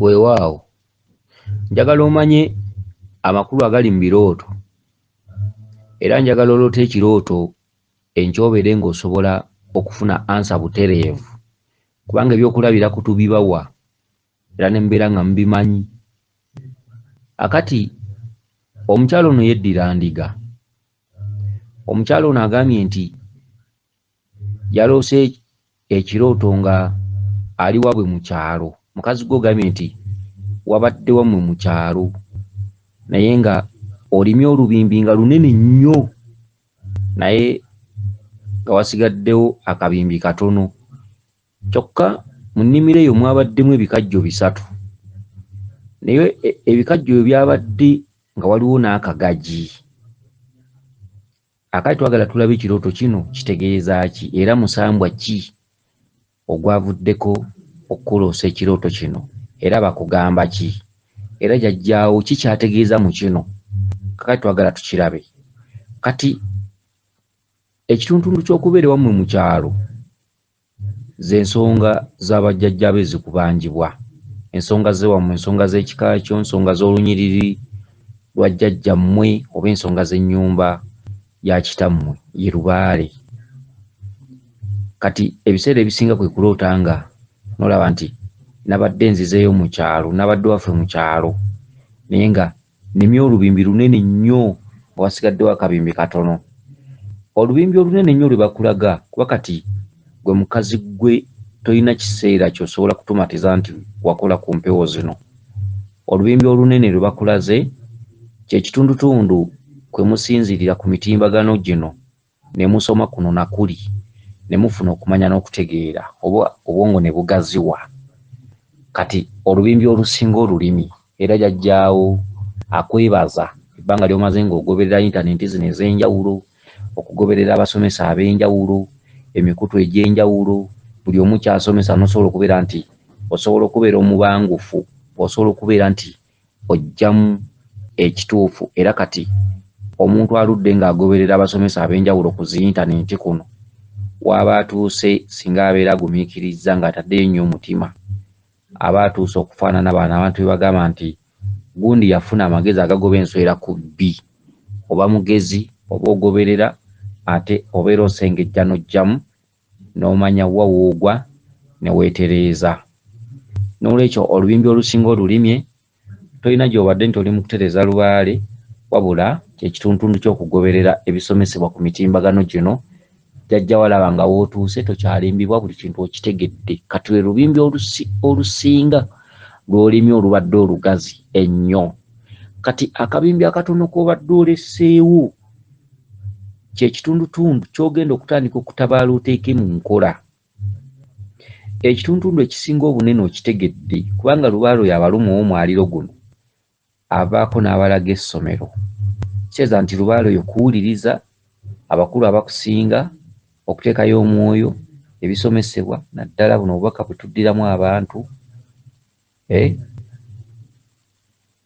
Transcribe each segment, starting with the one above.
weewaawo njagala omanye amakulu agali mu birooto era njagala oloota ekirooto enkyobere ng'osobola okufuna ansa butereevu kubanga ebyokulabira kutubibawa era ne mubeera nga mubimanyi akati omukyalo ono yeddira ndiga omukyalo ono agambye nti yaloose ekirooto nga ali wabwe mu kyalo mukazi gwe ogambye nti wabadde wamwe mu kyalo naye nga olimye olubimbi nga lunene nnyo naye nga wasigaddewo akabimbi katono kyokka mu nnimiro eyo mwabaddemu ebikajjo bisatu naye e, ebikajjo ebyo byabadde nga waliwo n'akagagi Akati twagala tulabe ekirooto kino kitegeeza ki era musambwa ki ogwavuddeko okukuloosa ekirooto kino era bakugamba ki era jajjaawo ki kyategeeza mu kino kakati twagala tukirabe kati ekituntundu ky'okubeera ewammwe mu kyalo Z'ensonga za bajjajja be ezikubanjibwa, ensonga z'ewammwe, ensonga z'ekika kyo, ensonga z'olunyiriri lwa jjajjammwe oba ensonga z'ennyumba ya kitammwe ye lubaale. Kati ebiseera ebisinga kwe kuloota nga n'olaba nti nabadde nzizeeyo mu kyalo, nabadde waffe mu kyalo naye nga Nemye olubimbi lunene nnyo nga wasigaddewo akabimbi katono. Olubimbi olunene ennyo lwe bakulaga kuba kati gwe mukazi gwe tolina kiseera ky'osobola kutumatiza nti wakola ku mpewo zino. Olubimbi olunene lwe bakulaze kye kitundutundu kwe musinziirira ku mitimbagano gino. ne musoma kuno na kuli ne mufuna okumanya n'okutegeera oba obwongo ne bugaziwa. Kati olubimbi olusinga olulimi era Jajjaawo akwebaza ebbanga ly'omaze ng'ogoberera yintanenti zino ez'enjawulo, okugoberera abasomesa ab'enjawulo, emikutu egy'enjawulo, buli omu ky'asomesa n'osobola okubeera nti osobola okubeera omubangufu osobola okubeera nti oggyamu ekituufu era kati omuntu aludde ng'agoberera abasomesa ab'enjawulo ku zi yintanenti kuno w'aba atuuse singa abeera agumiikirizza ng'ataddeyo nnyo omutima aba atuuse okufaanana bano abantu be bagamba nti gundi yafuna amagezi agagoba enswera ku bbi oba mugezi oba ogoberera ate obeera osengejja n'oggyamu n'omanya wa w'ogwa ne weetereeza. N'olwekyo olubimbi olusinga olulimye, tolina gy'obadde nti oli mu kutereeza lubaale, wabula kye kituntuntu ky'okugoberera ebisomesebwa ku mitimbagano gino, jajja walaba nga w'otuuse tokyalimbibwa buli kintu okitegedde. Kati lwe lubimbi olusi, olusinga lw'olimye olubadde olugazi ennyo. Kati akabimbi akatono k'obadde oleseewo. kyekitundutundu kyogenda okutandika okutabaala oteeke mu nkola ekitundutundu ekisinga obunene okitegedde kubanga lubaalo yabaluma owomwaliro guno avaako n'abalaga essomero kiteeza nti lubaalo yo kuwuliriza abakulu abakusinga okuteekayo omwoyo ebisomesebwa naddala buno obubaka bwetuddiramu abantu eh?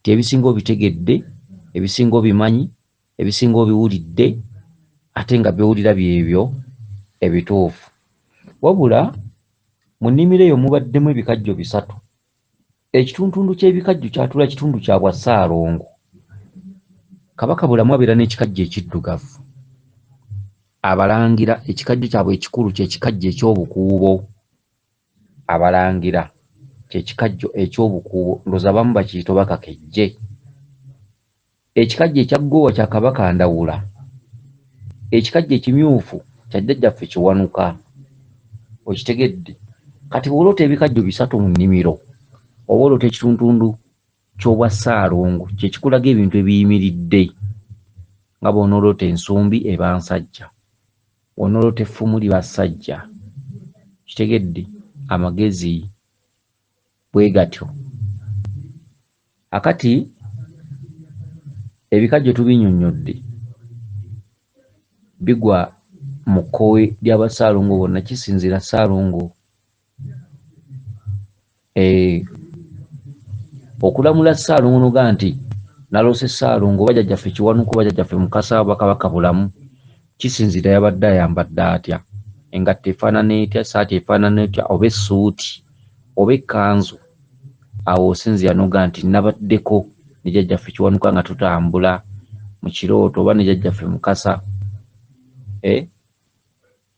Nti ebisinga obitegedde, ebisinga obimanyi, ebisinga obiwulidde ate nga by'owulira by'ebyo ebituufu. Wabula mu nnimiro eyo mubaddemu ebikajjo bisatu. Ekituntundu ky'ebikajjo kyatula kitundu kya bwa Ssaalongo. Kabaka bulamu abeera n'ekikajjo ekiddugavu. Abalangira ekikajjo kyabwe ekikulu kye kikajjo eky'obukuubo. abalangira kyekikajjo ekyobukuubo ndoza abamu bakiyita oba kakejje ekikajjo ekya ggoowa kya kabaka ndawula ekikajjo ekimyufu kya jjajjaffe kiwanuka okitegedde kati bwoloota ebikajjo bisatu mu nnimiro oba oloota ekituntundu kyobwa ssaalongo kyekikulaga ebintu ebiyimiridde nga bwonooloota ensumbi eba nsajja Wanolota effumu lye bassajja. Okitegedde? Amagezi bwegatyo. Akati ebikajjo tubinyonyodde bigwa mu kkowe lya ba Ssaalongo bonna kisinziira Ssaalongo Eh, okulamula ssaalongo noga nti naloose ssaalongo oba jajjaffe kiwanuka oba jajjaffe mukasa oba kabaka bulamu kisinziira yabadde ayambadde atya engatto efaanana etya esaati efaanana etya oba essuuti oba ekkanzu awo osinziira noga nti nabaddeko ne jajjaffe kiwanuka nga tutambula mu kirooto oba ne jajjaffe mukasa eh?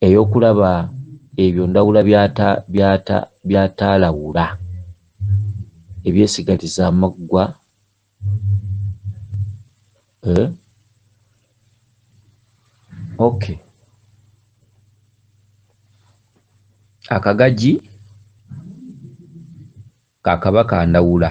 Ey'okulaba ebyo Ndawula by'ataalawula, ebyesigaliza amaggwa, eh? Okay. Akagagi ka Kabaka Ndawula.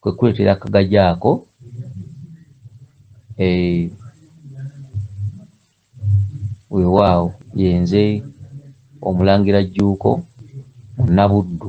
kwe kuleetera akagaji ako eh, weewaawo yenze omulangira jjuuko munnabuddu